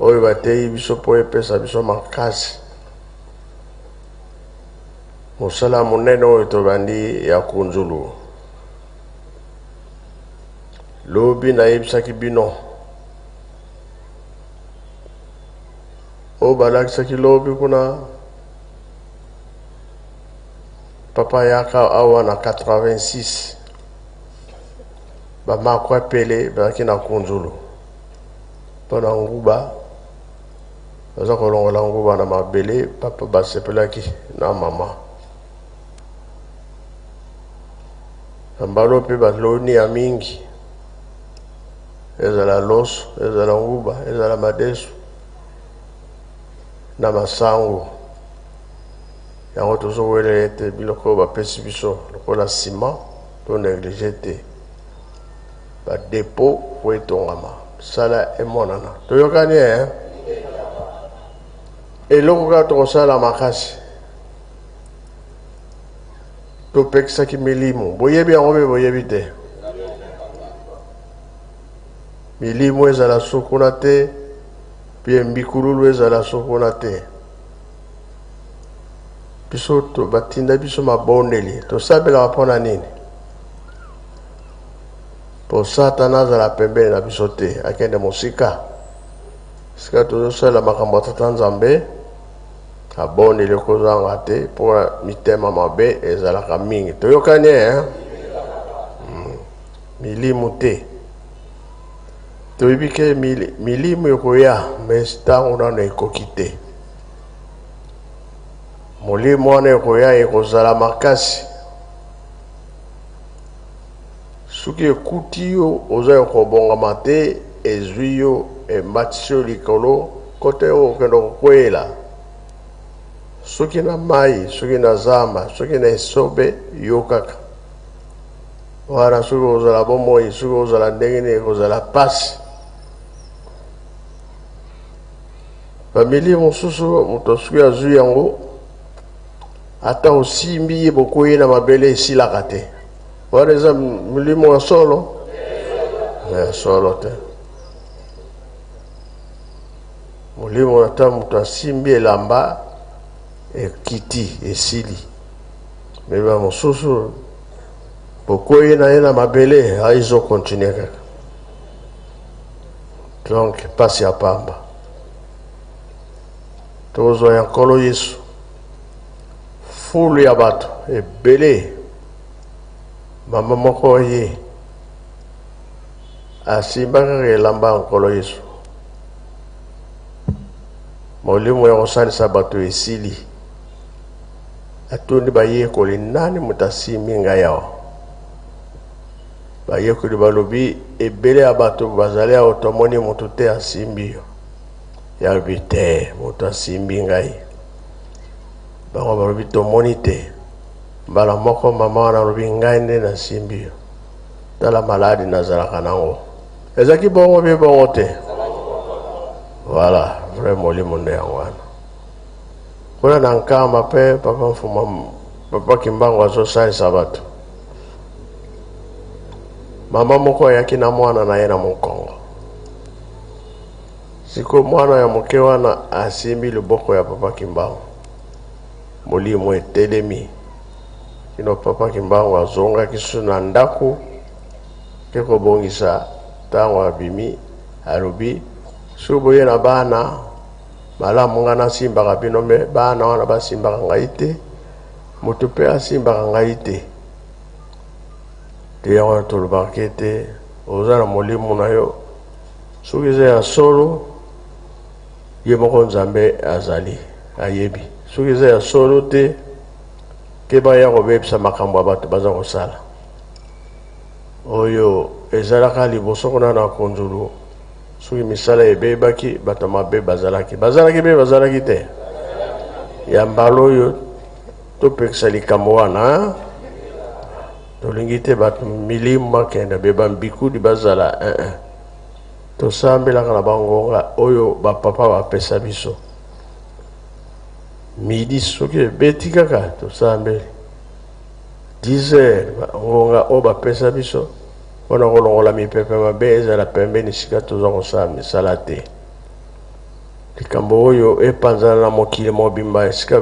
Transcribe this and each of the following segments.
Oyo bateyi biso mpo epesa biso makasi. Mosala monene oyo tobandi ya kunzulu. Lobi nayebisaki bino oyo balakisaki lobi kuna papa yaka awa na 86 bamakwa pele bazalaki na kunzulu mpo na nguba baza kolongola nguba na mabele papa basepelaki na mama na mbalo mpe baloni ya mingi ezala loso ezala nguba ezala madesu na masango yango tozowele ete biloko oyo bapesi biso lokola nsima to neglige te Ba depot po etongama sala emonana toyokani eh? eloko kaka tokosala makasi topekisaki milimo boyebi yango mpe boyebi te milimo ezala sukuna te mpe mbikululu ezala sukuna te biso batinda biso mabondeli tosabelaka mpo na nini mpo satana azala pembeni na biso te akende mosika sika tozosalela makambo ya tata nzambe abondeli kozanga te mpo mitema mabe ezalaka mingi toyokani eh? hmm. milimu te toyebi ke milimu ekoya mais ntango nano ekoki te molimo wana ekoya ekozala makasi Soki ekuti yo oza ya kobongama te, ezwi yo, ematisi yo likolo, kote yo okende kokweyela, soki na mayi, soki na zamba, soki na esobe, yo kaka wana. Soki ozala bomoi, soki ozala ndenge nini, ekozala pasi. Bamili mosusu moto soki azwi yango Ata osimbi ye bokwei na mabele esilaka te. Wana eza milimo ya solo ya solo te. Molimo na ntango moto asimbi elamba ekiti esili, mema mosusu bokwei na ye na mabele aizo kontinue kaka donc mpasi ya pamba. Tozwa ya Nkolo Yesu. Foule ya bato ebele, mama moko aye asimba kaka elamba ya Nkolo Yesu. Molimo ya kosalisa bato esili. Atuni bayekoli, nani moto asimbi ngai awa? Bayekoli balobi, ebele ya bato bazali awa, tomoni moto te asimbi yo. ya lobi te moto asimbi ngai bango balobi tomoni te mbala moko mama wana alobi ngai nde nasimbi yo tala maladi nazalaka nango ezalaki bongo bie bongo te voilà vrai molimo nde yango wana kuna na nkamba mpe papa mfuma papa kimbangu azosalisa bato mama moko ayaki na mwana na ye na mokongo Siko mwana ya moke wana asimbi loboko ya Papa Kimbangu. Molimo etelemi. Kino Papa Kimbangu azongaki su na ndako te kobongisa ntango abimi alobi soki boye na bana malamu ngai nasimbaka bino me bana wana basimbaka ngai te moto mpe asimbaka ngai te te yango tolobaka ete oza na molimo na yo Soki eza ya solo, ye moko Nzambe azali ayebi. Soki eza ya solo te, te baya kobebisa makambo ya bato baza kosala. Oyo ezalaka liboso kuna na konzulu, soki misala ebebaki, bato mabe bazalaki bazalaki be bazalaki te. Ya mbala oyo topekisa likambo wana, tolingi te bato milimo bakenda be bambikudi bazala eh, eh. Tosambelaka na bangonga oyo bapapa bapesa biso. Midi soki ebeti kaka tosambeli 10 heures bangonga oyo bapesa biso mpo na kolongola mipepe mabe ezala pembeni esika toza kosala misala te. Likambo oyo epanzana na mokili mobimba esika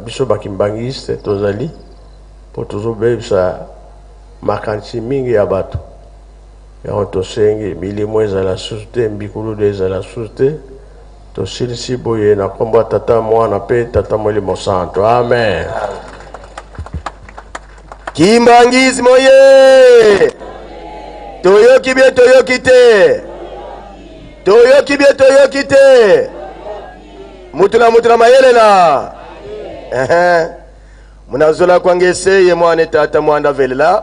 biso bakimbangiste tozali mpo tozobebisa makanisi mingi ya bato. Yango tosengi milimo ezala lisusu te, mbikuludu ezala lisusu te. Tosilisi boye na nkombo ya Tata, Mwana mpe Tata Molimo Santu. Amen. Kimbanguisme oye! Toyoki bie toyoki te, toyoki bie toyoki te, mutu na mutu na mayele na ehe munazola kwanga eseye mwana etata mwanda velela